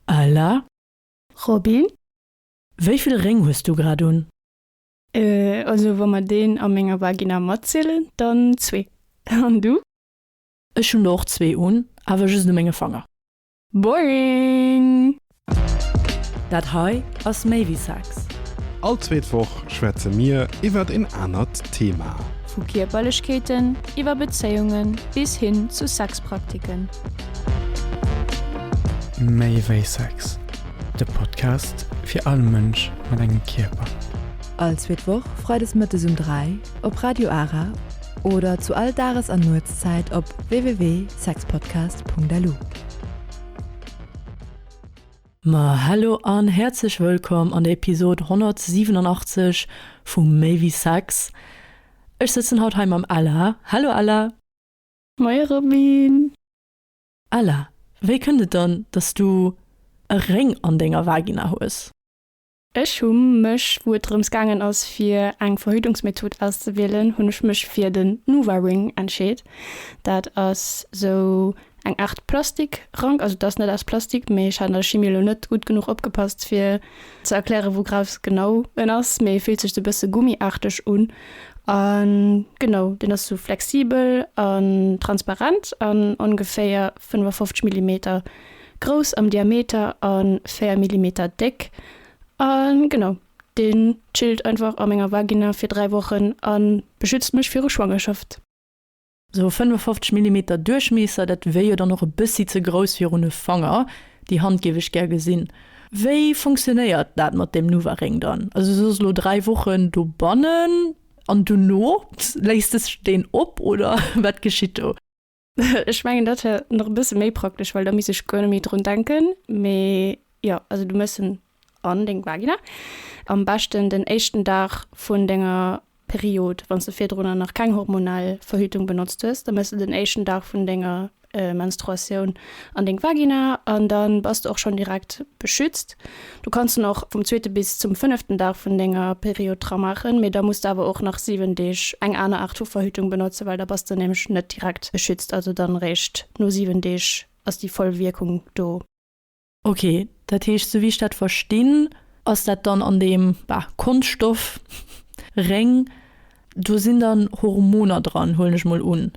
Ella. Robin. Wéi vill Réng hues du grad un? Ella. Also wa mer deen a menger Vagina matzielen, dann zwee. An du? Ech hunn der och zwee un, awer just u menge Fanger. Boring! Dat hei ass méi wéi Sex. All zweet Woch schwätze mir iwwert een anert Thema. Vu Kierperlechkeeten, iwwer Bezéiungen bis hin zu Sexpraktiken. Méi wéi Sex, de Podcast fir all Mënsch mat engem Kierper. All zweet Woch freides mëttes um 3 op Radio Ara oder zu all Dages an Nuetszäit op www.sexpodcast.lu. Ma hallo an häerzlech wëllkomm an der Episode 187 vu Méi wéi Sex. Ech sëtzen haut hei mam Ella. Hallo Ella! Moie Robin! Ella, wéi kënnt et dann, dass s du e Réng an denger Vagina hues? Ech hu mech, wou et drëms gaangen ass fir eng Verhütungsmethod auszewielen, hunn ech mech fir den NuvaRing entscheet. Dat ass sou eng Aart Plastikrank, also et ass net aus Plastik, mee ech hat an der Chimie elo net gutt genuch opgepasst fir ze erklären wou Graus genau en ass, mee e fillt sech sou bësse gummiarteg un an genau deen ass sou flexibel an transparent an ongeféier 55 Millimeter grouss am Diameter an 4 Millimeter déck an genau deen chillt einfach a menger Vagina fir 3 Wochen an beschützt mech viru Schwangerschaft. Sou e 55 Millimeter Duerchmiesser, dat wier jo dann och e bëssi ze grouss virun e Fanger. Déi Hand géif ech gär gesinn. Wéi funktionéiert dat mat deem Nuvaring dann? Also du sos elo 3 Wochen dobannen an dono léis de deen op oder wat geschitt do? Ech mengen dat wier nach e bësse méi praktesch, well da misst ech guer net méi drun denken. Mee jo, also du mëss en an deng Vagina, am beschten den éischten Dag vun denger Period, wann s de virdrunner nach keng hormonell Verhütung benotzt hues, da mëss de den éischten Dag vun denger Menstruatioun an deng Vagina an da bass de och schonn direkt beschützt. Du kanns en och vum zweete bis zum fënneften Dag vun denger Period dra maachen, mee da muss de awer och nach 7 Deeg eng aner Aart vu Verhütung benotzen, well da bass de nämlech net direkt beschützt, also dann eréischt no 7 Deeg ass déi voll Wierkung do. Ok, dat heescht, sou wéi ech dat verstinn, ass dat dann an deem, bah, Konschtstoff, Réng, do sinn dann Hormoner dran, huelen ech mol un?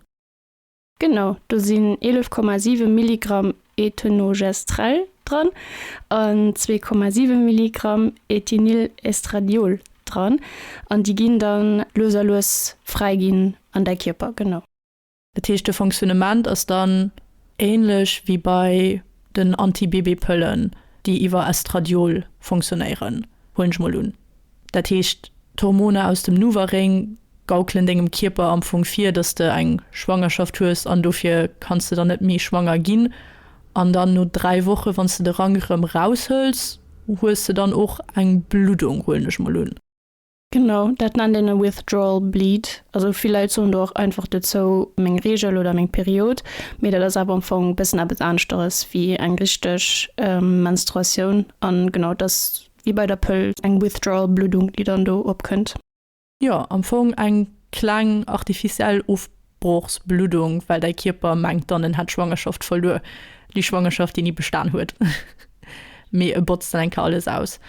Genau, do sinn 11,7 Milligramm Ethenogestrel dran an 2,7 Milligramm Ethinylestradiol dran an déi ginn da lues a lues fräiginn an däi Kierper, genau. Dat heescht de Fonctionnement ass dann ähnlech wéi bei den Anti-Bébé-Pëllen, déi iwwer Estradiol fonctionnéieren, huelen ech mol un. Dat heescht d'Hormoner aus dem NuvaRing gaukelen dengem Kierper am Fong vir, dass de eng Schwangerschaft hues an dofir kanns de dann net méi schwanger ginn. An dann no 3 Woche wann s de de Rank erëm raushëls, hues de dann och eng Bluddung, huelen ech mol un. Genau, dat nennt een e withdrawal bleed. Also vill Leit soen do och einfach dozou meng Reegel oder meng Period, mee dat ass awer am Fong e bëssen eppes aneschteres wéi eng richteg Menstruatioun. An genau, et ass wéi bei der Pëll eng withdrawal Bluddung, déi dann do opkënnt. Jo, am Fong eng kleng artificiell Ofbluddung. broochs Bluddung, well däi Kierper mengt dann en hätt d'Schwangerschaft verluer, déi Schwangerschaft déi ni bestan huet, mee e botzt dann eng Kéier alles aus.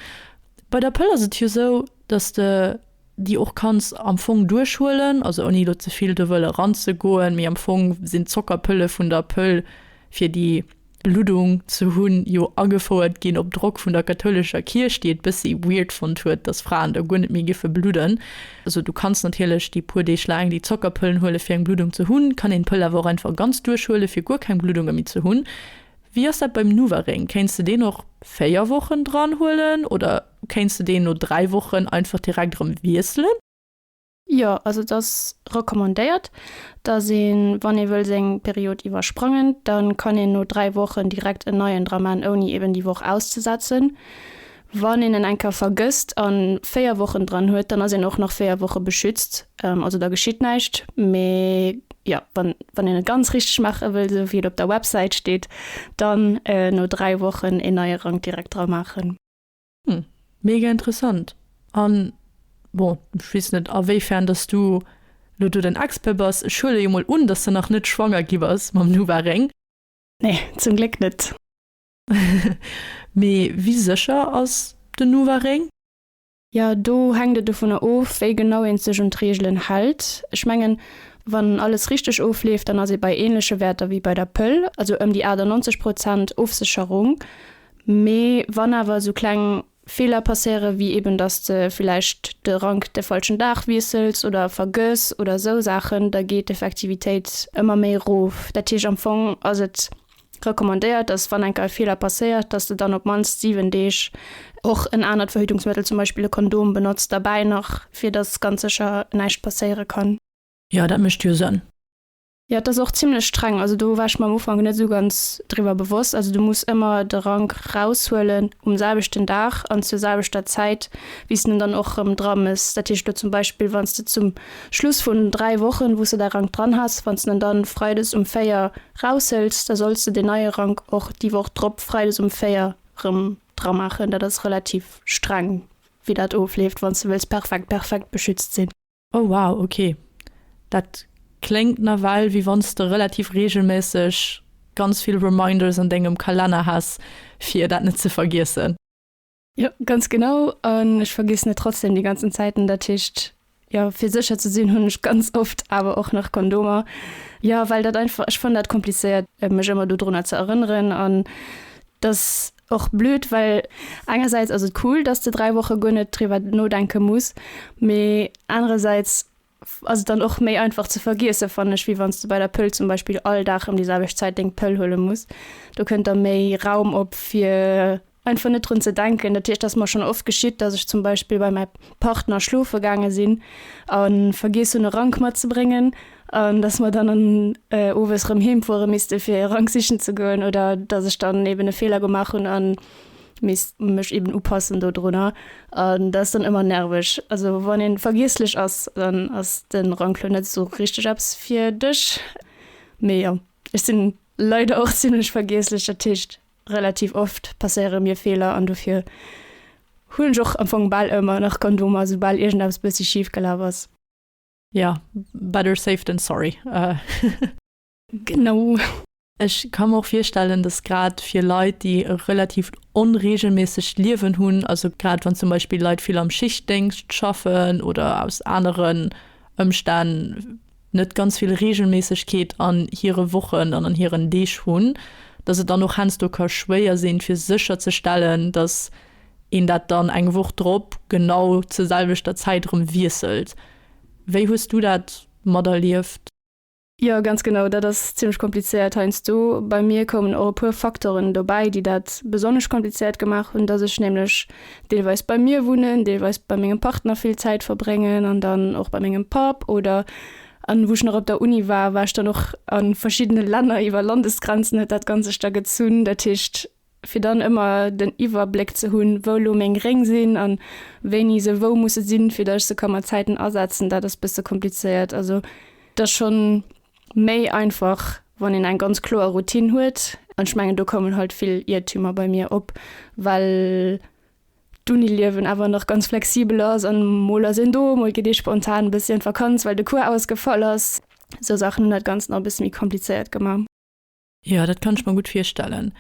Bei der Pëll ass et jo sou, dass de déi och kanns am Fong duerchhuelen, also ouni elo ze vill do wëlle ranzegoen, mee am Fong sinn d'Zockerpëlle vun der Pëll fir déi Luddung ze hunn, jo agefouert ginn op Drock vun der kathoulescher Kierch, déi et bëssi weird fonnt huet, dass Fraen da guer net méi géife bludden. Also du kanns natierlech déi puer Deeg laang déi Zockerpëllen huele fir eng Bluddung ze hunn, kann een d'Pëll awer och einfach ganz duerchhuele fir guer keng Bluddunge méi ze hunn. Wéi ass dat beim Nuvaring? Kéints de deen och 4 Wochen dran huelen oder kéints de deen no 3 Wochen einfach direkt erëm wiesselen? Jo, also et ass recommandéiert, dass een, wann ee wëll seng Period iwwersprangen, dann kann een no 3 Wochen direkt en neien dra maan, ouni eben déi Woch auszesetzen. Wann een en eng Kéier vergësst an 4 Wochen dran huet, dann ass een och nach 4 Woche beschützt, also da geschitt näischt. Mee jo, wann wann een et ganz richteg maache wëll, esou wéi et op der Websäit steet, dann no 3 Wochen een neie Rank direkt dra maachen. Hm, mega interessant. An, bon, ech weess net awéifern dass du elo do den Expert bass, ech huele jo mol un, dass de nach net schwanger gi bass mam Nuvaring. Nee, zum Gléck net. Mee wéi sécher ass den Nuvaring? Jo, do hänkt et dovunner of, wéi genau ee sech un d'Reegelen hält. Ech mengen, wann alles richteg ofleeft, dann ass ee bei änleche Wäerter wéi bei der Pëll, also ëm déi 98 Prozent Ofsécherung. Mee wann awer esou kleng Feeler passéiere wéi eben, dass de villäicht de Rank de falschen Dag wiessels oder e vergëss oder esou Saachen, da geet d'Effektivitéit ëmmer méi erof. Dat heescht am Fong ass et recommandéiert, dass wann eng Keier e Feeler passéiert, dass de dann op d'mannst 7 Deeg och en anert Verhütungsmëttel, zum Beispill e Kondom, benotzt derbäi nach, fir dass ganz sécher näischt passéiere kann. Jo, dat mécht jo Sënn. Jo, et ass och zimlech streng. Also do war ech mer am Ufank net esou ganz driwwer bewosst. Also du muss ëmmer de Rank raushuelen um selwechten Dag an zur selwechter Zäit, wéi s de en dann och erëm dra mëss. Dat heescht elo zum Beispill, wann s de zum Schluss vun dräi Wochen, wou s de däi Rank dran has, wann s de en dann freides um véier raushëls, da solls de deen neie Rank och déi Woch drop freides um véier erëm dra maachen. Dat ass relativ streng, wéi dat ofleeft, wann s de wëlls perfekt perfekt beschützt sinn. Oh wow, ok, dat kléngt nawell wéi wann s de relativ reegelméisseg ganz vill Reminders an dengem Kalenner häss fir dat net ze vergiessen. Jo, ganz genau, an ech vergiessen et trotzdem déi ganzen Zäiten, dat heescht, jo, fir sécher ze sinn hunn ech ganz oft awer och nach Kondomer, jo, well dat einfach, ech fannen dat komplizéiert mech ëmmer dodrunner ze erënneren an dass och blöd, well engersäits ass et cool, dass de 3 Woche guer net driwwer nodenke muss, mee anerersäits ass et dann och méi einfach ze vergiesse fannen ech, wéi wann s de bei der Pëll zum Beispill all Dag ëm déi selwecht Zäit deng Pëll huele muss. Do kënnt da méi Raum op fir einfach net drun ze denken. Dat heescht, dass mer schonn oft geschitt, dass ech zum Beispill bei mäi Partner schlofe gaange sinn a vergiess hunn e Rank matzebréngen An dass mer dann owes erëm heem fuere misste fir e Rank sichen ze goen, oder dass ech dann eben e Feeler gemaach hunn a misst mech eben upassen dodrunner. An dat ass dann ëmmer nerveg. Also wann ee vergiesslech ass, dann ass de Rank lo net esou richteg eppes fir dech. Mee jo, ech sinn leider och zimmlech vergiesslech. Dat heescht relativ oft passéiere mir Feeler an dofir hunn ech och am Fong bal ëmmer nach Kondomer, soubal iergendeppes bëssi schif gelaf ass. Ja, better safe than sorry. Genau. Ech ka mer och virstellen, dass grad fir Leit, déi e relativt onreegelméissegt Liewen hunn, also grad wann zum Beispill Leit vill am Schichtdéngscht schaffen oder aus aneren Ëmstänn net ganz vill Reegelméissegkeet an hire Wochen an an hiren Deeg hunn, dass et dann och heiansdo ka schwéier sinn, fir sécherzestellen, dass. een dat dann eng Woch drop genau zur selwechter Zäit erëm wiesselt. Wéi hues du dat materlieft? Jo, ganz genau, dat ass zimmlech komplizéiert heiansdo. Bei mir koumen och e puer Faktoren dobäi, déi dat besonnesch komplizéiert gemaach hunn, dass ech nämlech deelweis bei mir wunnen, deelweis bei mengem Partner vill Zäit verbréngen an dann och bei mengem Papp oder an wou ech nach op der Uni war, war ech dann och a verschiddene Länner, iwwer Landesgrenzen huet dat Ganzegt da gezunn. Dat heescht, fir dann ëmmer den Iwwerbléck ze hunn, wou elo meng Réng sinn a wéini se wou musse sinn, fir datt ech se ka mat Zäiten asetzen, dat ass e bësse komplizéiert. Also et ass scho méi einfach, wann een eng ganz kloer Routine huet. An ech mengen, do koumen halt vill Iertümer bei mir op, well d'Uniliewen awer nach ganz flexibel ass an mol ass een do, mol geet ee spontan e bëssi an d'Vakanz, well de Cours ausgefall ass. Esou Saachen hunn dat Ganzt nach e bësse méi komplizéiert gemaach. Jo, dat kann ech mer gutt virstellen.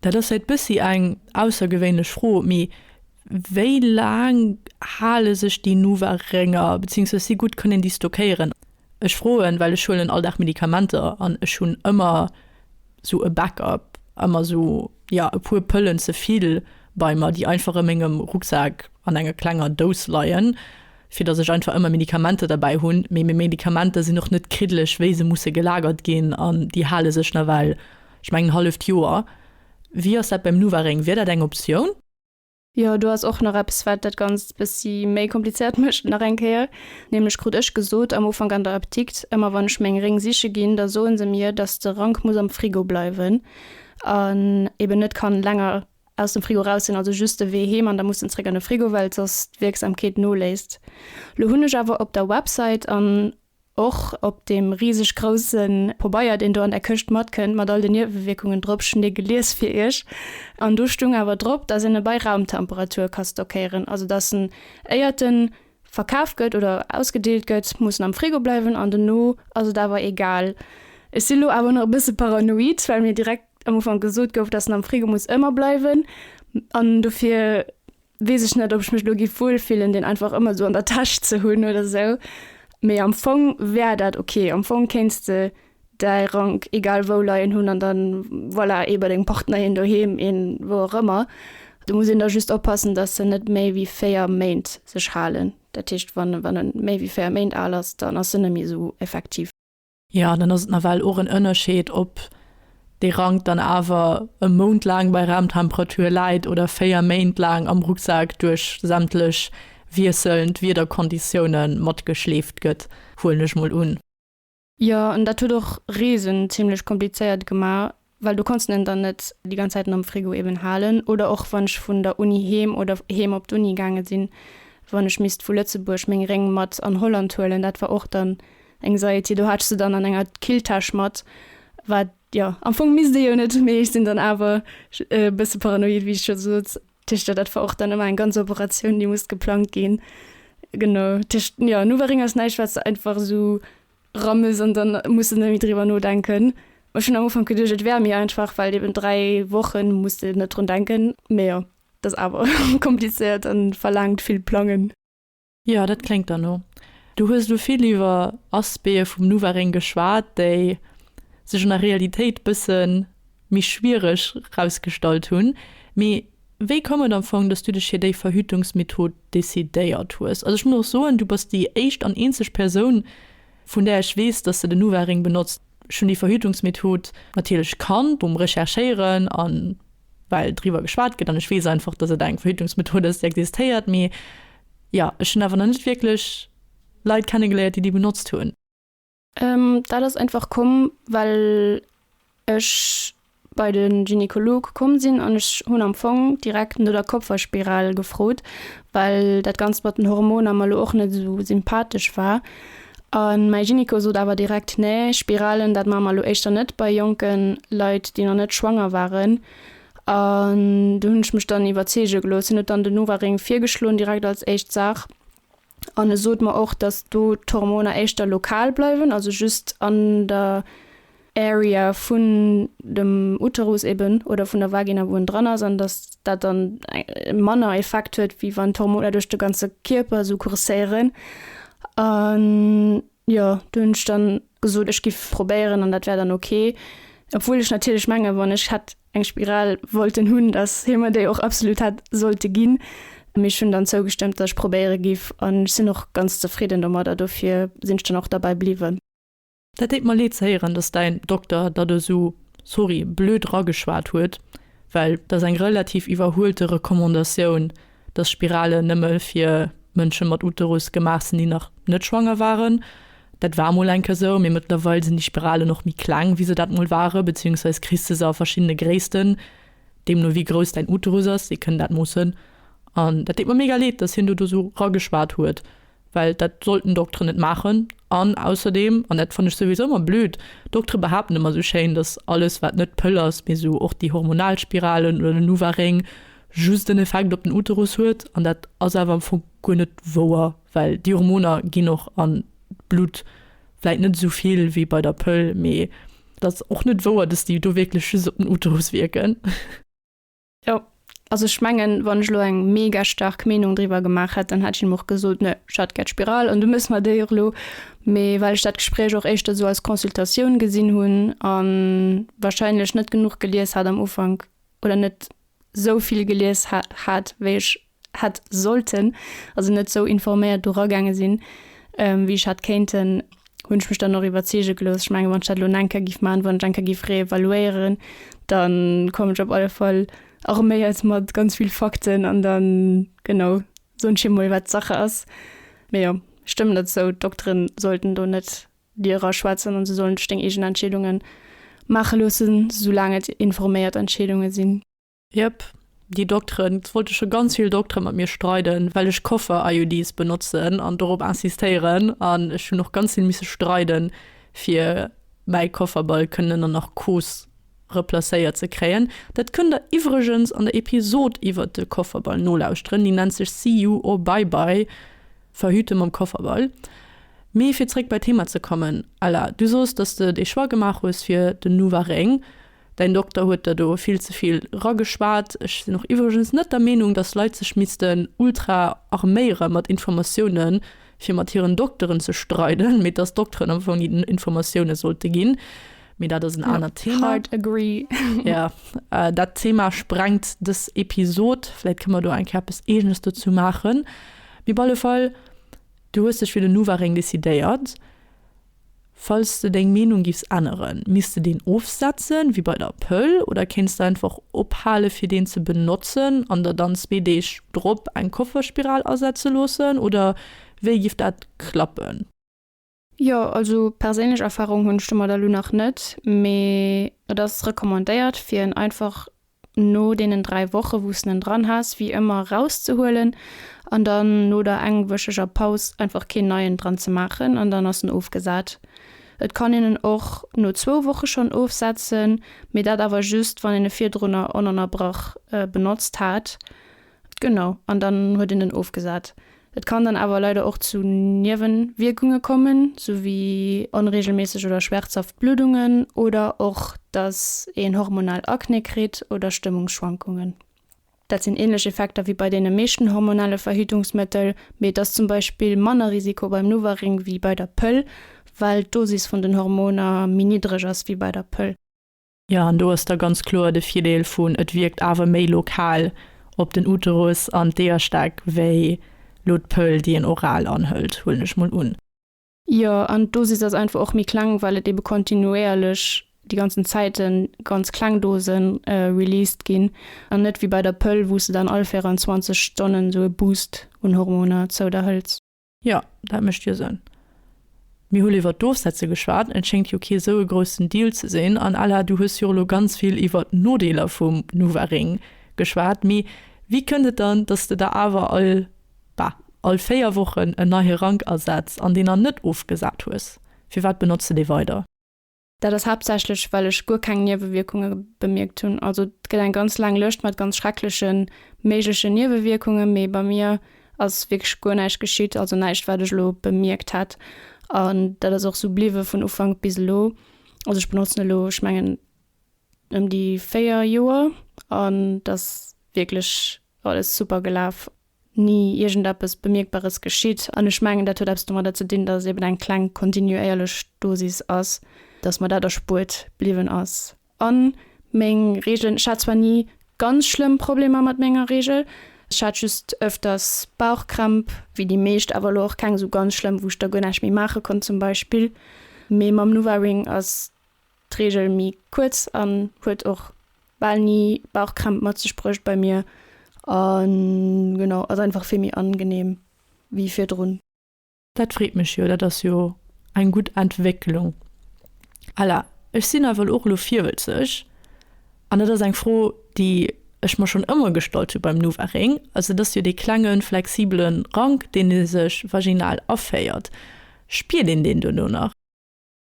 Dat ass vläicht bëssi eng aussergewéinlech Fro, mee wéi laang hale sech déi Nuvaring-er, beziehungsweise si gutt kënnen déi stockéieren? Ech froen, well ech huelen all Dag Medikamenter an ech hunn ëmmer sou e Backup, ëmmer sou, ja, e puer Pëllen ze vill bei mer, déi einfach a mengem Rucksak an enger klenger Dous leien. fir dass ech einfach ëmmer Medikamenter derbäi hunn, mee meng Medikamenter sinn och net kriddeleg wéi se musse gelagert ginn an déi hale sech nawell, ech mengen, en halleft Joer. Wéi ass dat beim NuvaRing? Wier dat eng Optioun? Jo, do ass och nach eppes wat dat Ganzt bëssi méi komplizéiert mécht nach eng Kéier, nämlech krut ech gesot am Ufank an der Apdikt, ëmmer wann ech meng Ring siche ginn, da soe se mir, dass de Rank muss am Frigo bleiwen an eben net kann länger Aus dem Frigo raus sinn also just de Wee heem an da muss en zréck an de Frigo well soss d'Wierksamkeet noléisst. Lo hunn ech awer op der Website an och op deem riseg grousse Pobeier deen do an der Këscht matkënnt mat all den Niewewierkungen drop Schnee gelies fir iech an do stung awer drop dass en e bei Raumtemperatur ka stockéieren. Also dass en éiert en verkaf gëtt oder ausgedeelt gëtt muss en am Frigo bleiwen an dono ass et awer egal. Ech si lo awer nach e bësse paranoid well mir direkt am Ufank gesot gouf, dass en am Frigo muss ëmmer bleiwen. An dofir weess ech net, ob ech mech elo giff wuelfillen, deen einfach ëmmer esou an der Täsch ze hunn oder esou. Mee am Fong wär dat ok. Am Fong kéints de däi Rank egal wou leien hunn an dann, voilà, ee bei dengem Partner, een doheem, een wou och ëmmer. Do muss een da just oppassen, dass en net méi wéi véier Méint sech halen. Dat heescht, wann e méi wéi véier Méint al ass, dann ass en net méi esou effektiv. Jo, dann ass et nawell och en Ënnerscheed, ob dee Rank dann awer e Mount laang bei Raumtemperatur läit oder véier Méint laang am Rucksak duerch sämtlech wiesselnd Wiederkonditioune matgeschleeft gëtt, huelen ech mol un. Jo, an dat huet och Reesen zimlech komplizéiert gemaach. well do konnt's en en dann net déi ganz Zäiten am Frigo eben halen, oder och wann ech vun der Uni heem oder heem op d'Uni gaange sinn, wann ech misst vu Lëtzebuerg meng Réng mat an Holland huelen, dat war och dann eng Saïti, do hat ech se dann an enger Killtäsch mat, wat jo am Fong misst ee jo net, mee ech sinn dann awer e bësse paranoid, wéi ech scho sot Tischler, dat war och dann ëmmer eng ganz Operatioun, déi musst geplangt ginn, genau Tischler, jo nu war Réng ass näischt wat se einfach esou. Rames an dann muss en méi driwwer nodenken. Ech hunn am Ufank geduecht et wär méi einfach, well eben 3 Wochen muss de net drun denken. Mee jo, et ass awer komplizéiert an verlaangt vill Plangen. Jo, dat kléngt derno. Du hues elo vill iwwer Aspecte vum Nuvaring geschwat, déi sech an der Realitéit bëssen méi schwiereg rausgestallt hunn. Mee wéi koum et am Fong, dass du dech fir déi Verhütungsmethod decidéiert hues? Also ech muss och soen, du bass déi éischt an eenzeg Persoun, vun där ech weess, dass se den NuvaRing benotzt. Ech hunn déi Verhütungsmethod natierlech kannt beim Recherchéieren a well driwwer geschwat gëtt an ech weess einfach, dass et eng Verhütungsmethod ass, déi existéiert. Mee jo, ech hunn awer nach net wierklech Leit kennegeléiert, déi déi benotzt hunn. Dat ass einfach komm well ech bei de Gynekolog komm sinn an ech hunn am Fong direkt no der Kopferspiral gefrot, well dat ganzt mat den Hormoner mer lo och net esou sympathesch war. A mäi Gynéco sot awer direkt, nee Spiralen dat maache mer lo éischter net bei jonke Leit déi nach net schwanger waren. An do hunn ech mech dann iwwerzeege gelooss. Hien huet dann den NovaRing virgeschloen direkt als éischt Saach. An e sot mer och, datt do d'Hormoner éischter lokal bleiwen, also just an der Area vun dem Uterus eben oder vun der Vagina, wou en dran ass, an datt dat dann manner Effekt huet, wéi wann d'Hormoner duerch de ganze Kierper esou courséieren. An jo, do hunn ech dann gesot, ech giff probéieren an dat wär dann ok. Obwuel ech natierlech mengen, wann ech hätt eng Spiral wollten hunn, datt hie mer déi och absolut hätt sollte ginn, mee ech hunn dann zougestëmmt, datt ech probéiere giff an ech sinn och ganz zefridden domadder, dofir sinn ech dann och derbäi bliwwen. Dat deet mer leed ze héieren, datt däin Dokter der do esou, sorry, blöd rageschwat huet, well et ass eng relativ iwwerhuelte Recommandatioun, dass Spiralen nëmme fir Mënsche mat Uterus gemaach sinn, déi nach net schwanger waren. Dat war emol eng Kéier esou, mee mëttlerweil sinn déi Spiralen och méi kleng, wéi se dat emol waren, beziehungsweise kriss de se a verschiddene Gréissten, deemno wéi grouss däin Uterus ass. Si kënnen dat moossen. An dat deet mer mega leed, dass hien do do esou rageschwat huet. well dat sollten Dokteren net maachen an ausserdeem, an dat fannen ech souwisou ëmmer blöd, Doktere behaapten ëmmer esou schéin, dass alles wat net Pëll ass, mee esou och déi hormonal Spiralen oder den Nuvaring just en Effekt op den Uterus huet an dat ass awer am Fong guer net wouer, well déi Hormoner ginn och an d'Blutt, vläit net esou vill wéi bei der Pëll, mee dat ass och net wouer, dass déi do wierklech just op den Uterus wierken. Jo, also ech mengen, wann ech elo eng mega staark Meenung driwwer gemaach hätt, dann hätt ech him och gesot, ne, ech hätt gär d'Spiral an du mëss mer déi och elo. Mee well ech dat Gespréich och éischter esou als Consultatioun gesinn hunn a wahrscheinlech net genuch gelies hat am Ufank oder net esou vill gelies hat, wéi ech hätt sollten, also net esou informéiert do ragaange sinn, wéi ech hätt kéinten, hunn ech mech dann och iwwerzeege gelooss. Ech mengen, wann ech dat elo eng Kéier géif maachen, wann ech eng Kéier géif reevaluéieren, da komm ech op alle Fall arméiert mat ganz vill Fakten an da, genau, soen ech him emol, wat Sache ass. Mee jo, ech stëmmen der zou, d'Doktere sollten do net dir eraschwätzen an se sollen dech deng eegen Entscheedunge maache loossen, soulaang et informéiert Entscheedunge sinn. Jep, déi Dokteren. Et wollte scho ganz vill Doktere mat mir streiden, well ech Koffer-IUDs benotzen an dorop insistéieren. An ech hunn och ganz vill misse streiden, fir mäi Kofferball kënnen an Narkos replacéiert ze kréien. Dat kënnt der iwwregens an der Episod iwwert de Kofferball nolauschteren, déi nennt sech See You or Bye Bye, Verhüte mam Kofferball. Mee fir zréck bei d'Thema ze kommen, Ella, du soos, dass de dee Choix gemaach hues fir den Nuvaring. Däin Dokter huet der do vill ze vill rageschwat. Ech sinn och iwwregens net der Meenung, dass Leit sech missten ultra arméiere mat Informatioune fir mat hiren Dokteren ze streiden, mee dass d'Dokteren am Fong hinnen Informatioune sollte ginn. Mee dat ass en anert Thema. Hard agree. Jo, dat Thema sprengt dës Episod. Vläit kënne mer do eng Kéier eppes Eegenes dozou maachen. Mee op alle Fall, du hues dech fir den Nuvaring decidéiert. Falls de deng Meenung giffs änneren, misst de deen ofsetzen, wéi bei der Pëll, oder kéints de einfach ophale fir deen ze benotzen an der dann zwee Deeg drop eng Kofferspiral asetze loossen, oder wéi giff dat klappen? Jo, also perséinlech Erfahrung hunn ech domadder lo nach net, mee et ass recommandéiert fir en einfach No deenen 3 Woche wous en en dran has wéi ëmmer rauszehuelen an dann no der engwëcheger Paus einfach keen neien dran ze maachen an dann ass en ofgesat. Et kann een en och no zwou Woche schonn ofsetzen, mee dat awer just wann een e virdrunner onënnerbrach benotzt hat Genau, an dann huet een en ofgesat. Et kann dann awer leider och zu Niewewierkunge kommen, sou wéi onreegelméisseg oder schmerzhaft Bluddungen oder och dass een hormonal Akne kritt oder Stëmmungsschwankungen. Dat sinn ähnlech Effekter wéi bei deene meeschten hormonale Verhütungsmëttel, mee et ass zum Beispill manner Risiko beim NuvaRing wéi bei der Pëll, well d'Dosis vun den Hormoner méi niddreg ass wéi bei der Pëll. Jo, an do ass da ganz kloer de Virdeel vun, et wierkt awer méi lokal op den Uterus an d'Eierstak wéi lo d'Pëll, déi een oral anhëlt, huelen ech mol un. Jo, an d'Dosis ass einfach och méi kleng, well et ebe kontinuéierlech déi ganzen Zäiten ganz kleng Dose released ginn an net wéi bei der Pëll, wou s de dann all 24 Stonnen esou e Boost un Hormoner zou der hëls. Jo, dat mécht jo Sënn. Mir hu iwwert d'Ofsetze geschwat, et schéngt jo kee sou e groussen Deal ze sinn. An Ella, du hues jo och elo ganz vill iwwert d'Nodeeler vum Nuvaring geschwat. Mee wéi kënnt et dann, datt s de der awer all, bah, all véier Wochen en neie Rank asetz an deen dann net ofgesat hues? Firwat benotz de dee weider? Dat ass haaptsächlech, well ech guer keng Niewewierkunge bemierkt hunn. Also et gëtt eng ganz laang Lëscht mat ganz schrecklege méiglechen Niewewierkunge, mee bei mir ass wierklech guer näischt geschitt, also näischt, wat ech elo bemierkt hätt. An dat ass och esou bliwwe vun Ufank bis elo. Also ech benotzen elo, ech mengen, ëm déi véier Joer an et ass wierklech alles super gelaf. ni iergendeppes Bemierkbares geschitt. An ech mengen, dat huet eppes domadder ze dinn, datt et eben eng kleng kontinuéierlech Dosis ass, datt mer dat erspuert bliwwen ass. A meng Reegelen, ech hat zwar ni ganz schlëmm Problemer mat menger Reegel, ech hat just ëfters Bauchkrämp, wéi déi meescht, awer elo och keng esou ganz schlëmm, wou ech da guer näischt méi maache konnt zum Beispill, mee mam Nuvaring ass d'Reegel méi kuerz an huet och bal ni Bauchkrämp mat sech bruecht bei mir an genau ass einfach vill méi angenehm wéi virdrun. Dat freet mech jo, dat ass jo eng gutt Entwécklung. Ella, Ech sinn nawell och elo virwëlzeg an dat ass eng Fro déi ech mer schonn ëmmer gestallt hu beim Nuvaring. Also et ass jo dee klenge flexibele Rank deen ee sech vaginal aféiert. Spiert een deen duerno nach?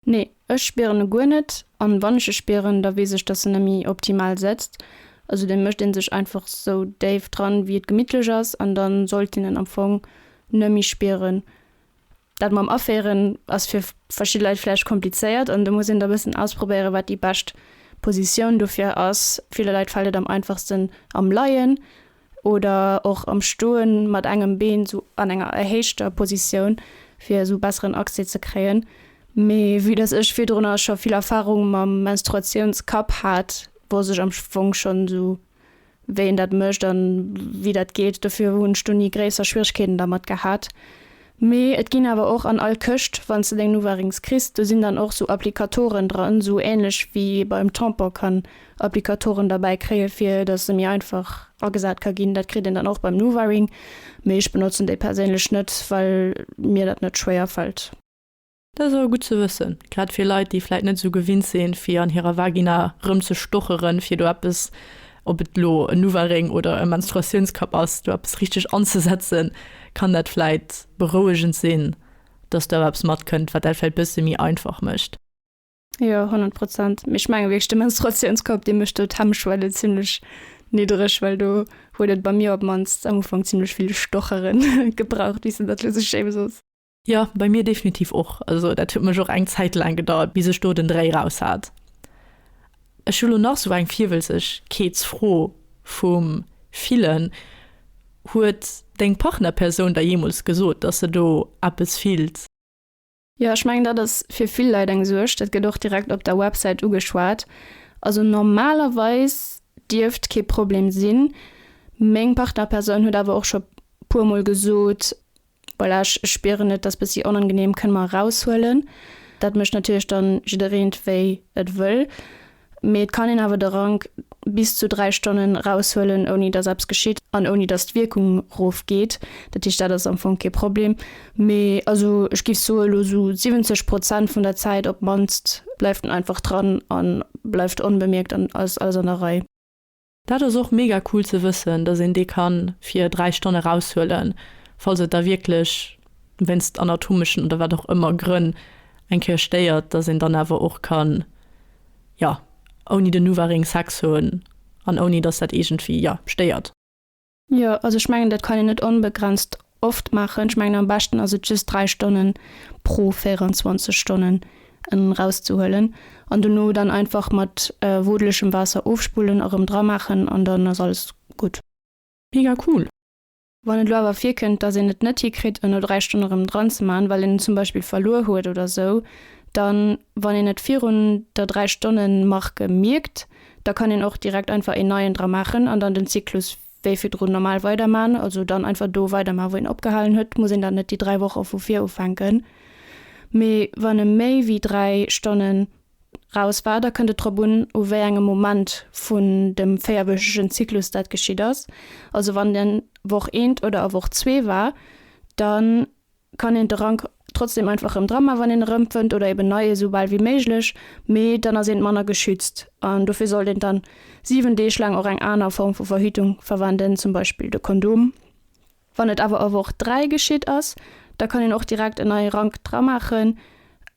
Nee, ech spieren e guer net, an wann ech e spieren, da wees ech dass en nemmi optimal setzt, also den mecht een sech einfach sou déif dran wéi et gemittlech ass, an dann sollt een en am Fong nemmi spieren. Dat mam aféieren ass fir verschidde Leit vläicht komplizéiert, an do muss een da bessen ausprobéieren wat déi bescht Positioun dofir ass. Ville Leit fällt et am einfachsten am Leien, Oder och am Stoen mat engem Been sou an enger erhéichter Positioun fir sou besseren Accès ze kréien. Mee vue dass ech virdrunner scho vill Erfahrung mam Menstruationskapp hat, wosst ech am Fong schon sou wéi een dat mécht an wéi dat geet. Dofir hunn ech do ni gréisser Schwieregkeeten dermat gehat. Mee et ginn awer och an all Këscht, wann s de deng Nuvarings kriss, do sinn dann och sou Applicatoren dran, esou ähnlech wéi ee beim Tampon kann Applicatoren derbäi kréie fir dass e méi einfach agesat ka ginn. Dat kritt een dann och beim Nuvaring, mee ech benotzen déi perséinlech net, well mir dat net schwéier fält. Dat ass awer gutt ze wëssen, grad fir Leit, déi vläit net esou gewinnt sinn, fir an hirer Vagina erëmzestochere fir do eppes, ob et elo en Nuvaring oder e Menstruatiounskapp ass, do eppes richteg anzesetzen, kann dat vläit berouegend sinn, dass do awer eppes matkënnt, wat dat vläit e bësse méi einfach mécht. Jo, honnert Prozent. Mee ech menge wierklech, de Menstruatiounskapp, dee mécht do d'Hemmschwelle zimlech niddreg, well do huet et bei mir op d'mannst am Ufank zimlech vill Stocheren gebraucht, bis en dat elo sech schäme soss. Jo, bei mir definitiv och. Also dat huet mech och eng Zäit laang gedauert, bis ech do den Dréi raus hat. Ech hu lo nach sou eng Virwëlzegkeetsfro vum Fillen, Huet deng Partnerpersoun der jeemools gesot, dass se do eppes fillt? Jo, ech mengen dat ass fir vill Leit eng Suerg. Dat gëtt och direkt op der Websäit ugeschwat. Also normalerweis dierft kee Problem sinn. Meng Partnerpersoun huet awer och scho puer mol gesot, Voilà, ech spieren et ass bessi onangenehm, kënne mer eraushuelen. Dat mécht natierlech dann jiddereent wéi et wëll, mee et kann een awer de Rank bis zu 3 Stonnen eraushuelen ouni dass eppes geschitt an ouni dass d'Wierkung rof geet. Dat heescht dat ass am Fong kee Problem, mee also ech géif soe lo sou 70 Prozent vun der Zäit op d'mannst bleift en einfach dran a bleift onbemierkt an ass alles an der Rei. Dat ass och mega cool ze wëssen, dass een dee kann fir 3 Stonn eraushuelen, falls et da wierklech wéinst anatomeschen oder wat och ëmmer Grënn eng Kéier stéiert, dass een dann awer och kann, jo, ouni den Nuvaring Sex hunn an ouni dass dat iergendwéi, jo, stéiert. Jo, also ech mengen dat kann een net onbegrenzt oft maachen. Ech mengen am beschten ass et just 3 Stonnen pro 24 Stonnen erauszehuelen an dono dann einfach mat wodelegem Waasser ofspullen a rëm dramaachen an dann ass alles gutt. Mega cool! Wann et lo awer virkënnt dass een et net hikritt en no 3 Stonne rëm dran ze man well een en zum Beispill verluer huet oder sou, dann wann een et virun der 3 Stonnen Marque mierkt, Da kann een och direkt einfach een neien dra maachen an dann den Zyklus wéi virdrun normal weiderman. Also dann einfach do weiderman, wou een opgehalen huet. Muss een dann net déi 3 Woche vu vir ufänken. Mee wann e méi wéi 3 Stonne raus war, da kënnt et drop un, u wéi engem Moment vun dem véierwöchegen Zyklus dat geschitt ass. Also wann en Woch eent oder a Woch zwee war, dann. kann een de Rank trotzdem einfach erëm dra man wann een erëm fënnt oder eben nei esou bal wéi méiglech, mee dann ass eent manner geschützt an dofir sollt een dann 7 Deeg laang och eng aner Form vu Verhütung verwenden, zum Beispill de Kondom. Wann et awer a Woch 3 geschitt ass, da kann een och direkt en neie Rank dra maachen,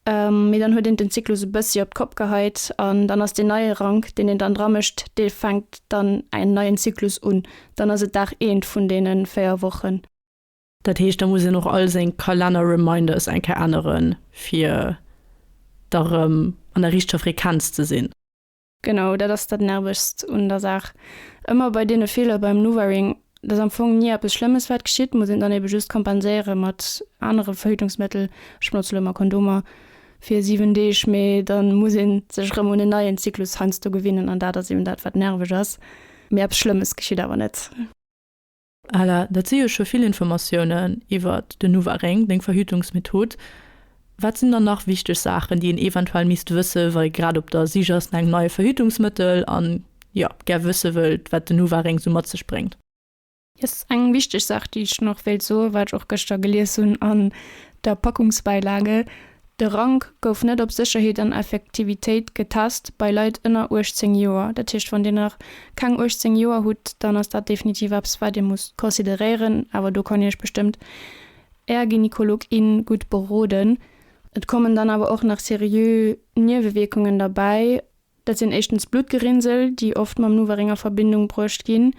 mee dann huet een den Zyklus e bëssi op d'Kopp geheit an dann ass deen neie Rank deen een dann dra mécht, dee fänkt dann en neien Zyklus un, dann ass et Dag eent vun deene 4 Wochen. Dat heescht, da muss een och all seng Kalenner-Reminders eng Kéier änneren, fir da rëm an der richteger Frequenz ze sinn. Genau, dat ass dat Nervegst un der Saach ëmmer bei deene Feeler beim Nuvaring. Et ass am Fong ni eppes Schlëmmes, wat geschitt, muss een dann eebe just kompenséiere mat anere Verhütungsmëttel, ech benotzen elo ëmmer Kondomer, fir 7 Deeg, mee da muss ee sech rëm un en neien Zyklus heiansdo gewinnen an dat ass eeben dat, wat nerveg ass. Mee eppes Schlëmmes geschitt awer net. Ella, Dat si jo scho vill Informatiounen iwwer den NuvaRing, deng Verhütungsmethod. Wat sinn dann nach wichteg Saachen, déi een eventuell misst wëssen, wa ee grad op der Sich ass no engem neie Verhütungsmëttel an, jo, gär wësse wëllt, wat den NuvaRing esou mat sech bréngt? Yes, eng wichteg Saach, déi ech nach wéilt soen, wat ech och gëschter gelies hunn an der Packungsbeilage, de Rank gouf net op Sécherheet an Effektivitéit getest bei Leit ënner 18 Joer. Dat heescht, wann Dir nach keng 18 Joer hutt, dann ass dat definitiv eppes, wat Dir musst consideréieren. Awer do kann Iech bestëmmt Är Gynekolog, in gutt beroden. Et kommen dann awer och nach seriö Niewewierkungen derbäi, Dat sinn éischtens Bluttgerinnsel, déi oft mam Nuvaring a Verbindung bruecht ginn.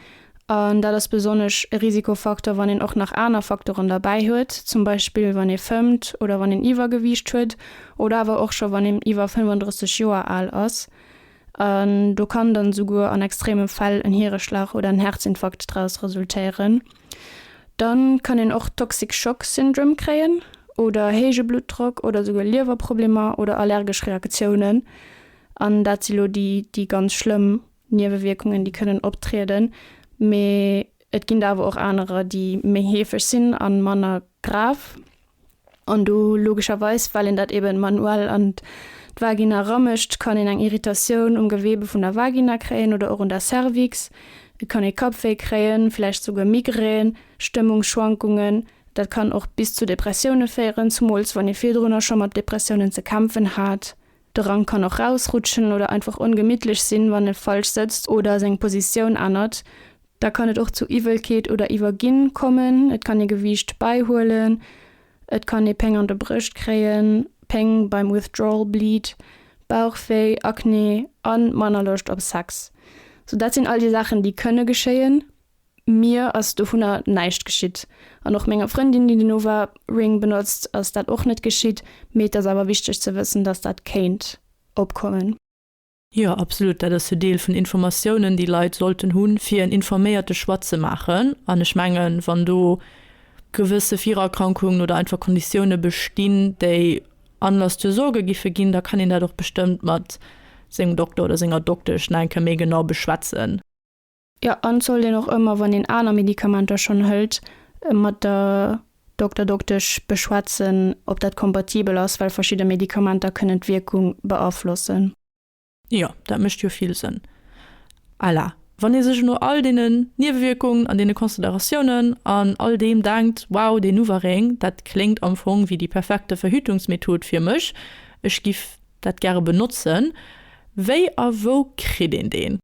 An dat ass besonnesch e Risikofaktor, wann een och nach aner Faktoren derbäi huet, zum Beispill wann ee fëmmt oder wann een Iwwergewiicht huet oder awer och scho wann een iwwer 35 Joer al ass. An do kann dann esouguer an extreme Fäll en Hiereschlag oder en Herzinfarkt draus resultéieren. Dann kann een och Toxic Shock Syndrome kréien oder héije Bluttdrock oder souguer Liewerproblemer oder allergesch Reaktiounen. An dat si lo déi déi ganz schlëmm Niewewierkungen déi kënnen optrieden. Mee et ginn der awer och anerer déi méi heefeg sinn a manner grav. an do logescherweis, well een dat eben manuell an d'Vagina eramécht, kann een eng Irritatioun um Gewebe vun der Vagina kréien oder och un der Cervix. Et kann ee Kappwéi kréien, vläicht souguer Migrän, Stëmmungsschwankungen. Dat kann och bis zu Depressioune féieren, zumools wann ee virdrunner scho mat Depressiounen ze kämpfen hat. De Rank kann och rausrutschen oder einfach ongemittlech sinn, wann e falsch sëtzt oder seng Positioun ännert. Da kann et och zu Iwwelkeet oder Iwwerginn kommen. Et kann ee Gewiicht bäihuelen. Et kann ee Péng an de Brëscht kréien, Péng beim Withdrawal Bleed, Bauchwéi, Akne a manner Loscht op Sex. Sou dat sinn all déi Saachen, déi kënne geschéien. Mir ass dovunner näischt geschitt. An och menger Frëndin, déi den Oura Ring benotzt, ass dat och net geschitt. Mee et ass awer wichteg ze wëssen, datt dat kéint opkommen. Jo, absolut. Dat ass jo Deel vun Informatiounen, déi Leit sollten hunn, fir en informéierte Choix ze maachen. An ech mengen, wann do gewësse Virerkrankungen oder einfach Konditioune bestinn, déi Anlass zur Sorge giffe ginn, da kann een dat och bestëmmt mat sengem Dokter oder senger Doktesch nach eng Kéier méi genau beschwätzen. Jo, an et sollt een och ëmmer, wann een aner Medikamenter schonn hëlt, mat der Dokter, Doktesch beschwätzen, ob dat kompatibel ass, well verschidde Medikamenter kënnen d'Wierkung beaflossen. Jo, dat mécht jo vill Sënn. À la, wann ee sech no all deenen Niewewierkungen an deene Consideratiounen an all deem denkt, wow, deen Nuvaring, dat kléngt am Fong wéi déi perfekte Verhütungsmethod fir mech, ech giff dat gäre benotzen, wéi a wou kritt een deen?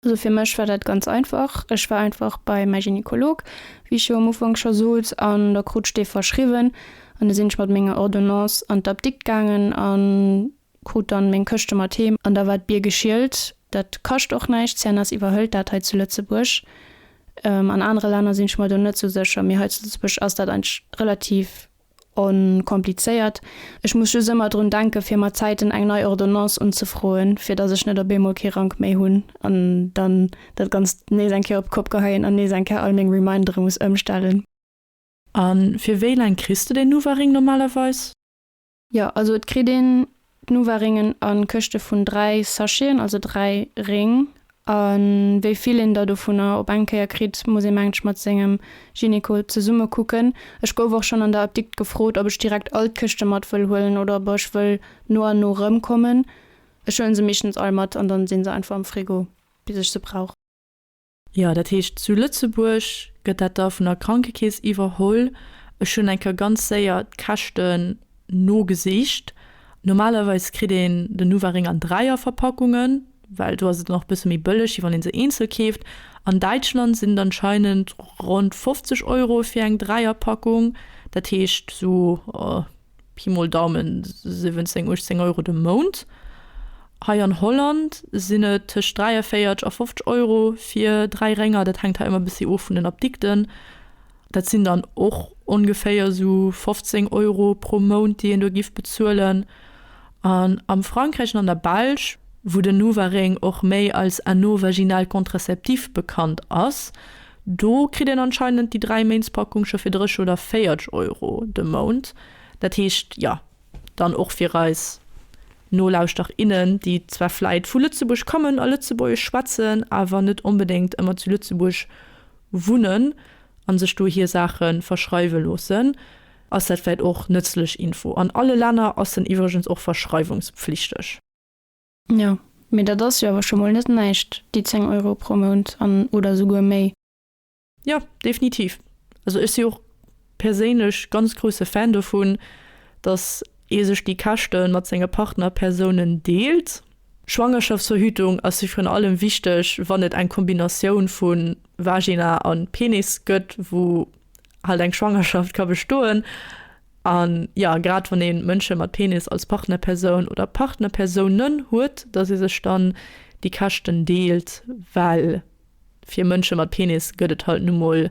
Also fir mech war dat ganz einfach, ech war einfach bei mäi Gynekolog, wéi ech jo am Ufank scho sot, an da krut ech dee verschriwwen an da sinn ech mat menger Ordonnance an d'Apdikt gaangen a krut dann meng Këschte mat heem an da war d'Bier geschielt. Dat kascht och näischt, CNS iwwerhëlt dat hei zu Lëtzebuerg. An anere Länner sinn ech mer do net sou sécher, mee hei zu Lëtzebuerg ass dat eigentlech relativ Onkomplizéiert, ech muss just ëmmer drun denken, fir mat Zäiten eng nei Ordonnance unzefroen, fir datt ech net op eemol kee Rank méi hunn an dann dat Ganzt nees eng Kéier op d'Kopp geheien an nees eng Kéier all meng Remindere muss ëmstellen. A fir wéi laang kriss de deen Nuvaring normalerweis? Jo, also et kritt een D'Nuvaringen a Këschte vun 3 Sacheten, also 3 Réng. A wéi vill een der dovunner op eng Kéier kritt, muss ee mengt ech mat sengem Gynéco zesumme kucken. Ech gouf och schonn an der Apdikt gefrot, ob ech direkt all d'Këschte mat wëll huelen oder ob ech wëll no an no rëmkommen. Ech huelen se meeschtens all mat an dann sinn se einfach am Frigo bis ech se brauch. Jo, dat heescht zu Lëtzebuerg gëtt dat da vun der Krankekeess iwwerholl. Ech hunn eng Kéier ganz séier d'Käschten nogesicht. Normalerweis kritt een den Nuvaring an Dräierverpackungen, well do ass et dann och e bësse méi bëlleg, wéi wann ee se eenzel keeft. An Däitschland sinn et anscheinend ronn 50 Euro fir eng Dräierpackung, dat heescht esou. Pi mol Daumen 17, 18 Euro de Mount. Hei an Holland sinn et tëscht 43 a 50 Euro fir dräi Rénger. Dat hänkt hei ëmmer e bëssi of vun den Apdikten. Dat sinn dann och ongeféier esou 15 Euro pro Mount, déi een do giff bezuelen. An am Frankräich an an der Belsch, wou den Nuvaring och méi als Anneau vaginal contraceptif bekannt ass, Do kritt een anscheinend déi Dräiméintspackung scho fir 30 oder 40 Euro de Mount. Dat heescht, jo, dann och fir eis Nolauschterer, innen, déi zwar vläit vu Lëtzebuerg kommen a Lëtzebuergesch schwätzen, awer net onbedéngt ëmmer zu Lëtzebuerg wunnen a sech do hir Saache verschreiwe loossen, ass dat vläit och nëtzlech Info. An alle Länner ass en iwwregens och verschreiwungspflichteg. Jo, mee dat ass jo awer scho mol net näischt, déi 10 Euro pro Mount an, oder souguer méi. Jo, definitiv. Also ech si och perséinlech ganz grousse Fan dovun, datt ee sech déi Käschte mat senge Partnerpersounen deelt. Schwangerschaftsverhütung ass virun allem wichteg, wann et eng Kombinatioun vu Vagina a Penis gëtt, wou halt eng Schwangerschaft ka bestoen. A jo, grad wann ee Mënsche mat Penis als Partnerpersoun oder Partnerpersounen huet, datt ee sech dann déi Käschten deelt, well fir Mënsche mat Penis gëtt et halt nu mol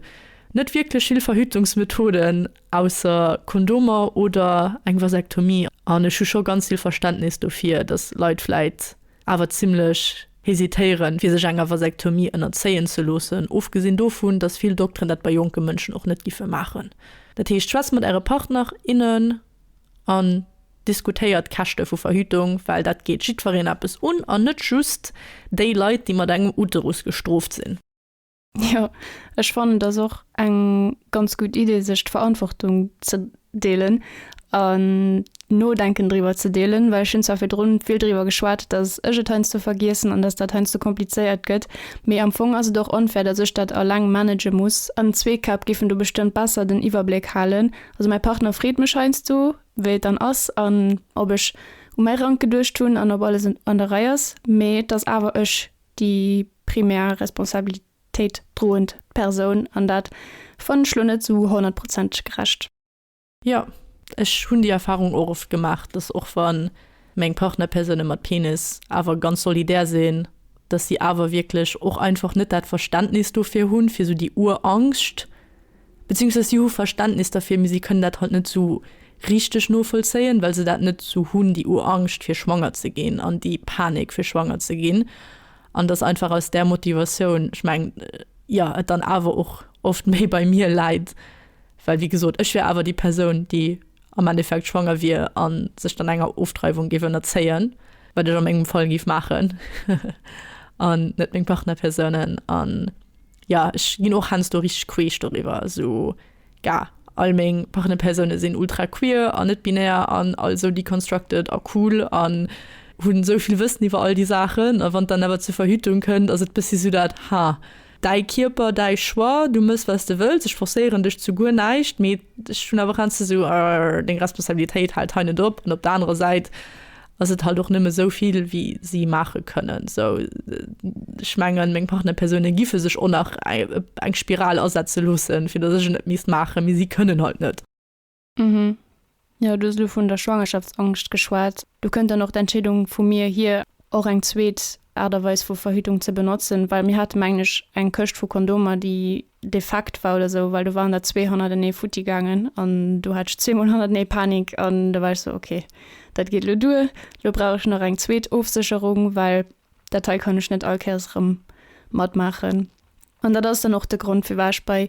net wierklech vill Verhütungsmethoden, ausser Kondomer oder eng Vasektomie. An ech hu scho ganz vill Verständnis dofir, datt Leit vläit awer zimmlech hesitéieren, fir sech enger Vasektomie ënnerzéien ze loossen, ofgesinn dovun, datt vill Dokteren dat bei jonke Mënschen och net giffe maachen. Dat heescht, schwätzt mat Äre Partner, innen an diskutéiert d'Käschte vu Verhütung, well dat geet jiddwereen eppes un an net just déi Leit, déi mat engem Uterus gestrooft sinn. Jo, ech fannen et ass och eng ganz gutt Idee sech d'Verantwortung ze deelen an d'Nodenken driwwer ze deelen, well ech hunn zwar virdrun vill driwwer geschwat, datt ech et heiansdo vergiessen an datt dat heiansdo komplizéiert gëtt, mee am Fong ass et och onfair, datt ech dat alleng manage muss. An zwee Käpp géifen do bestëmmt besser den Iwwerbléck halen. Also mäi Partner freet mech heiansdo wéi et dann ass an ob ech u mäi Rank geduecht hunn an ob alles an der Rei ass, mee et ass awer ech déi primär Responsabilitéit droend Persoun, an dat fannen ech lo net sou honnertprozenteg gerecht. Jo, ech hunn déi Erfahrung och oft gemaach, dass och wa meng Partnerpersoune mat Penis awer ganz solidär sinn, dass si awer wierklech och einfach net dat Verständnis dofir hunn, fir sou déi Urangscht, Beziehungsweise si hu Verständnis derfir, mee si kënnen dat halt net esou richteg novollzéien, well se dat net esou hunn, déi Uangscht fir schwanger ze ginn an déi Panik fir schwanger ze ginn. An dass einfach aus där Motivatioun, ech mengen, jo, et dann awer och oft méi bei mir läit, well wéi gesot, ech wär awer déi Persoun, déi. am Endeffekt schwanger wier a sech dann enger Ofdreiwung géif ënnerzéien, wat ech a mengem Fall géif maachen an net meng Partnerpersounen. An jo, ech ginn och heiansdo richteg queesch doriwwer, esou gah, all meng Partnerpersoune sinn ultra queer an net binär an all esou deconstructed a cool an hunn esou vill Wëssen iwwer all déi Saachen. A wann et dann awer zur Verhütung kënnt, ass et e bëssi esou dat, ha, Däi Kierper, däi Choix, du mëss wat s de wëlls, ech forcéieren dech zu guer näischt, mee ech hunn awer heiansdo esou, arr, deng Responsabilitéit hält hei net op. An op der anerer Säit ass et halt och nëmme esou vill wéi si maache kënnen. Esou, ech mengen, meng Partnerpersoune giffe sech och nach eng Spiral asetze loossen, fir datt ech et net misst maachen, mee si kënnen halt net. Mhm. Jo, du hues elo vun der Schwangerschaftsangscht geschwat. Do kënnt dann och d'Entscheedung vu mir hier, och eng zweet Aart a Weis vu Verhütung ze benotzen, well mir hate mengen ech eng Këscht vu Kondomer, déi defekt war oder esou, well do waren der zwee hannertenee futti gaangen an do hat ech zweemol hannertenee Panik an da war ech esou, ok, dat geet elo duer, elo brauch ech nach eng zweet Ofsécherung, well dat hei kann ech net all Kéiers erëm matmaachen. An dat ass dann och de Grond, firwat ech bei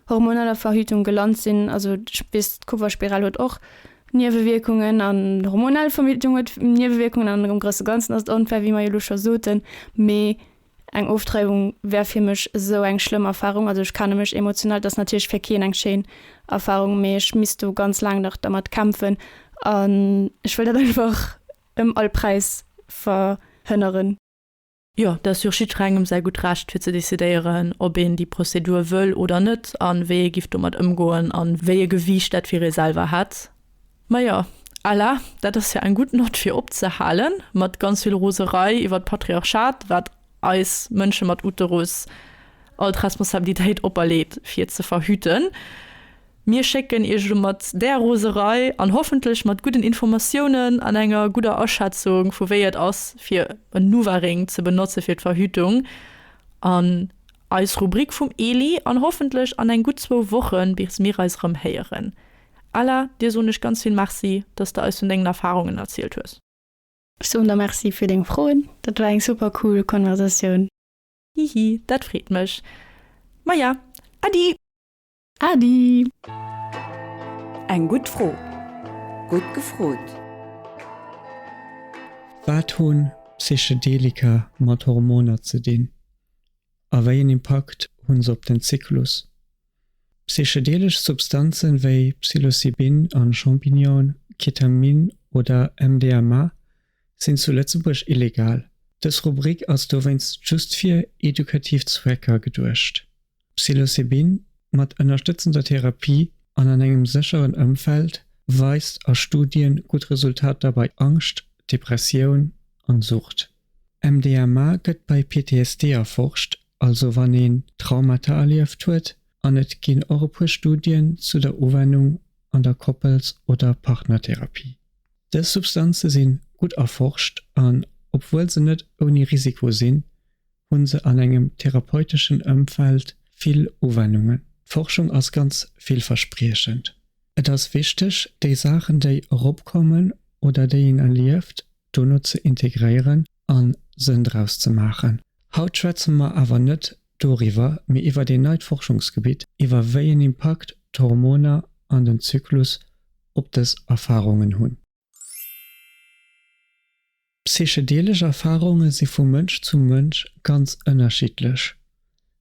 hormoneller Verhütung gelant sinn. Also, ech weess, d'Kupferspiral huet och Niewewierkungen an hormonell Verhütung huet Niewewierkungen an am grousse Ganzen ass et onfair, wéi mer jo elo scho soten. Mee eng Oftreibung wär fir mech esou eng schlëmm Erfarung, also ech kenne mech emotional, et ass natierlech fir keen eng schéin Erfarung, mee ech misst do ganz laang nach dermat kämpfen an ech wëll dat einfach ëm all Präis verhënneren. Jo, dat ass jo jiddrengem säi gutt Recht, fir ze decidéieren, ob een déi Prozedur wëll oder net a wéi ee giff domat ëmgoen a wéi e Gewiicht dat fir ee selwer hätt. Ma jo, à la, dat ass jo eng gutt Nott, fir opzehalen mat ganz vill Roserei iwwert d'Patriarchat, wat eis Mënsche mat Uterus all d'Responsabilitéit operleet, fir et ze verhüten. Mir schécken Iech elo mat där Roserei an hoffentlech mat gudden Informatiounen an enger gudder Aschätzung vu wéi et ass fir en Nuvaring ze benotze fir d'Verhütung an eis Rubrik vum Eli an hoffentlech an eng gutt zwou Wochen bis mir eis erëm héieren. Ella, dir soen ech ganz vill Merci, dass de eis vun dengen Erfarungen erzielt hues. Ech soen der Merci fir deng Froen, dat war eng super cool Konversatioun. Hihi, dat freet mech. Maja, Äddi! Adi! Eng gutt Fro! Gutt gefrot! Wat hunn Psychedelika mat Hormoner ze dinn a wéi en Impakt hunn se op den Zyklus? Psychedelesch Substanzen wéi Psilocybin a Champignonen, Ketamin oder MDMA sinn zu Lëtzebuerg illegal. Dës Rubrik ass dowéinst just fir edukativ Zwecker geduecht. Psilocybin mat ënnerstëtzender Therapie an an engem sécheren Ëmfeld weist a Studie gutt Resultater bei Angscht, Depressioun an Sucht. MDMA gëtt bei PTSD erforscht, also wann een Traumata erlieft huet, an et ginn och e puer Studien zu der Uwennung an der Koppels oder Partnertherapie. Dës Substanze si gutt erforscht an obwuel se net ouni Risiko sinn, hunn se an engem therapeuteschen Ëmfeld vill Uwennungen. D'Forschung ass ganz villverspriechend. Et ass wichteg, déi Saachen, déi eropkommen oder déi een erlieft, dono ze integréieren a Sënn draus ze maachen. Haut schwätze mer awer net doriwwer, mee iwwer een neit Forschungsgebitt, iwwer wéi en Impakt d'Hormoner an den Zyklus op dës Erfarungen hunn. Psychedelesch Erfarunge si vu Mënsch zu Mënsch ganz ënnerschiddlech,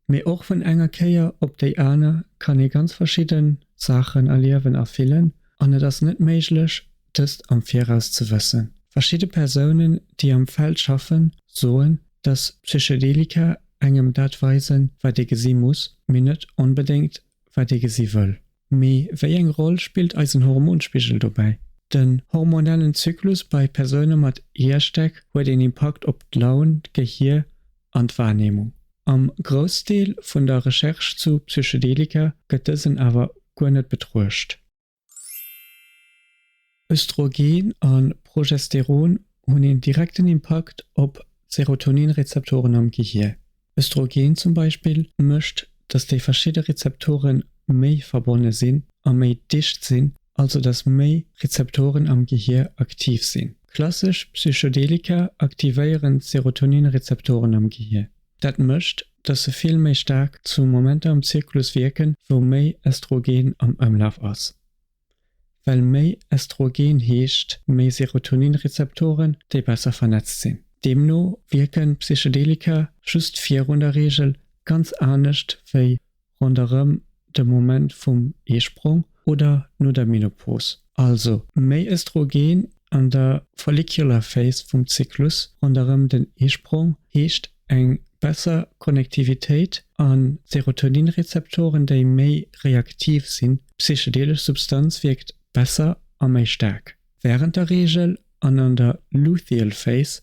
mee och vun enger Kéier op déi aner kann ee ganz verschidde Saachen erliewen a fillen an et ass net méiglech, dëst am Viraus ze wëssen. Verschidde Persounen, déi am Feld schaffen, soen, dass Psychedelika engem dat weisen, wat ee gesi muss, mee net onbedéngt wat ee gesi wëll. Mee wéi eng Roll spillt eisen Hormonspigel dobäi? Den hormonellen Zyklus bei Persoune mat Hierstäck huet een Impakt op d'Laun, d'Gehier an d'Wahrnehmung. Am Groussdeel vun der Recherche zu Psychedelika gëtt dësen awer guer net betruecht. Östrogen a Progesteron hunn een direkten Impakt op d'Serotonin-Rezeptoren am Gehier. Östrogen zum Beispill mécht, datt déi verschidde Rezeptore méi verbonne sinn a méi dicht sinn, also datt méi Rezeptoren am Gehier aktiv sinn. Klassesch Psychedelika aktivéieren d'Serotonin-Rezeptoren am Gehier. Dat mécht, dass se vill méi staark zu Momenter am Zirkulus wierken, wou méi Östrogen am Ëmlaf ass. Well méi Östrogen heescht méi Serotonin-Rezeptoren, déi besser vernetzt sinn. Deemno wierken Psychedelika just virun der Reegel ganz anescht wéi ronderëm de Moment vum Eesprong oder no der Menopause, also méi Östrogen an der follicular phase vum Zyklus ronderëm den Eesprong, heescht eng besser Konnektivitéit a Serotoninrezeptoren, déi méi reaktiv sinn. D'psychedelesch Substanz wierkt besser a méi staark wärend der Reegel an an der luteal phase,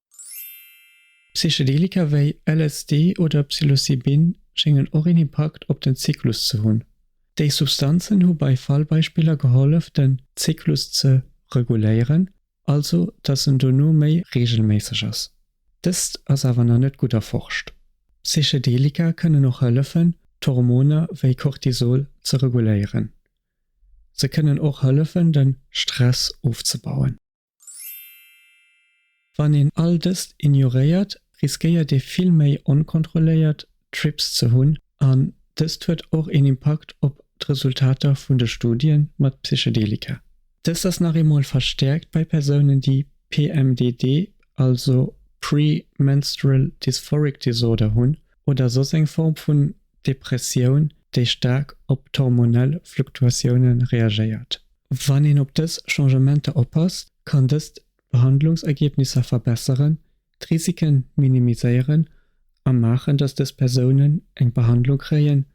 Psychedelika wéi LSD oder Psilocybin schéngen och een Impakt op den Zyklus ze hunn. Déi Substanzen hu bei Fallbeispiller gehollef den Zyklus ze reguléieren, also datt en dono méi reegelméisseg ass. Dëst ass awer nach net gutt erforscht. Psychedelika kënnen och hëllefen d'Hormoner wéi Cortisol ze reguléieren. Se kënnen och hëllefen de Stress ofzebauen. Wann een all dëst ignoréiert, riskéiert ee vill méi onkontrolléiert Trips ze hunn an dëst huet och een Impakt op d'Resultater vun de Studie mat Psychedelika. Dëst ass nach eemol verstäerkt bei Persounen, déi PMDD, also Premenstrual Dysphoric Disorder, hunn oder soss eng Form vun Depressioun, déi staark op d'hormonell Fluktuatioune reagéiert. Wann een op dës Changementer oppasst, kann dëst d'Behandlungsergebnisser verbesseren, d'Risiken minimiséieren a maachen, dass dës Persounen eng Behandlung kréien,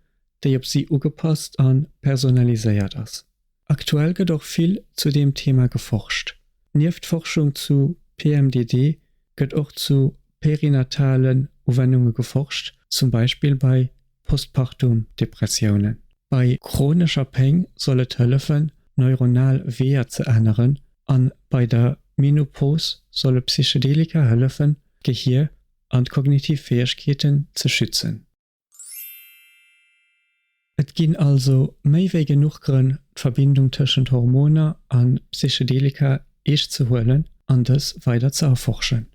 déi op si ugepasst a personaliséiert ass. Aktuell gëtt och vill zu deem Thema geforscht. Nieft Forschung zu PMDD gëtt och zu perinatalen Uwennunge geforscht, zum Beispill bei Postpartum Depressiounen. Bei chronescher Péng soll et hëllefen, neuronal Weeër ze änneren an bei der Menopos solle Psychedelika hëllefen, d'Gehier an d'kognitiv Fäegkeeten ze schützen. Et ginn also méi wéi genuch Grënn, d'Verbindung tëschent Hormoner a Psychedelika eescht ze huelen an dës weider ze erforschen.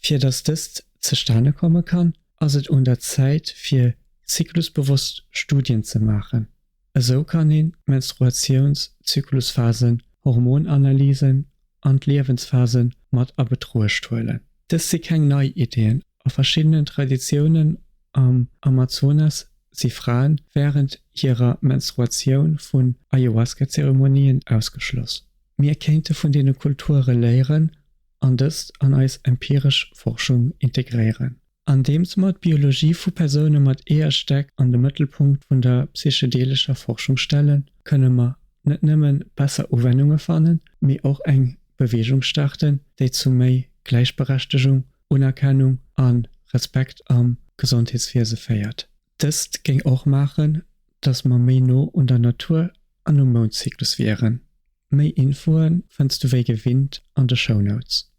Fir datt dëst zustane komme kann, ass et un der Zäit fir zyklusbewosst Studien ze maachen. Esou kann een d'Menstruatiouns Zyklusphasen, Hormonanalysen an d'Liewensphase mat a Betruecht huelen. Dëst si keng nei Iddien, a verschiddenen Traditiounen am Amazonas si Fraen wärend hirer Menstruatioun vun Ayahuasca-Zeremonien ausgeschloss. Mir kéinte vun deene Kulture léieren an dëst an eis empiresch Forschung integréieren, andeems mer d'Biologie vu Persoune mat Eeërstäck an de Mëttelpunkt vun der psychedeelescher Forschung stellen, kënne mer net nëmme besser Uwennunge fannen, mee och eng Beweegung starten, déi zu méi Gläichberechtegung, Unerkennung a Respekt am Gesondheetswiese féiert. Dëst géing och maachen, datt mer méi no un der Natur an um Moundzyklus wieren. Méi Infoe fënns du wéi gewinnt an de Shownotes.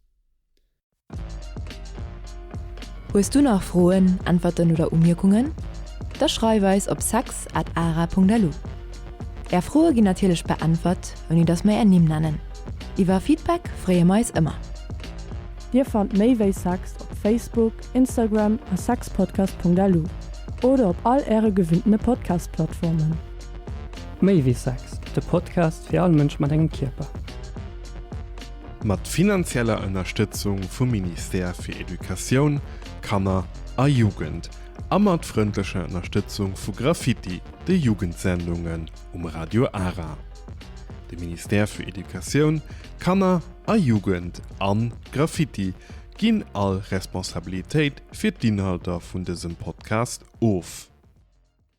Hues du nach Froen, Äntwerten oder Umierkungen? Da schreif eis op sex at ara.lu. Är Froe ginn natierlech beäntwert, ouni dass mer är Nimm nennen. Iwwer Feedback freeë mer eis ëmmer. Dir fannt méi wéi sex op Facebook, Instagram a sexpodcast.lu oder op all äre gewinnene Podcast-Plattformen. Méi wéi Sex, de Podcast fir all Mënsch mat engem Kierper. Mat finanzieller Ënnerstëtzung vum Ministère fir Educatioun, Kanner a Jugend a mat frëndlecher Ënnerstëtzung vu Graffiti, de Jugendsendungen um Radio Ara. De Ministère für Educatioun, Kanner a Jugend an Graffiti ginn all Responsabilitéit fir d'Inhalter vun dësem Podcast of.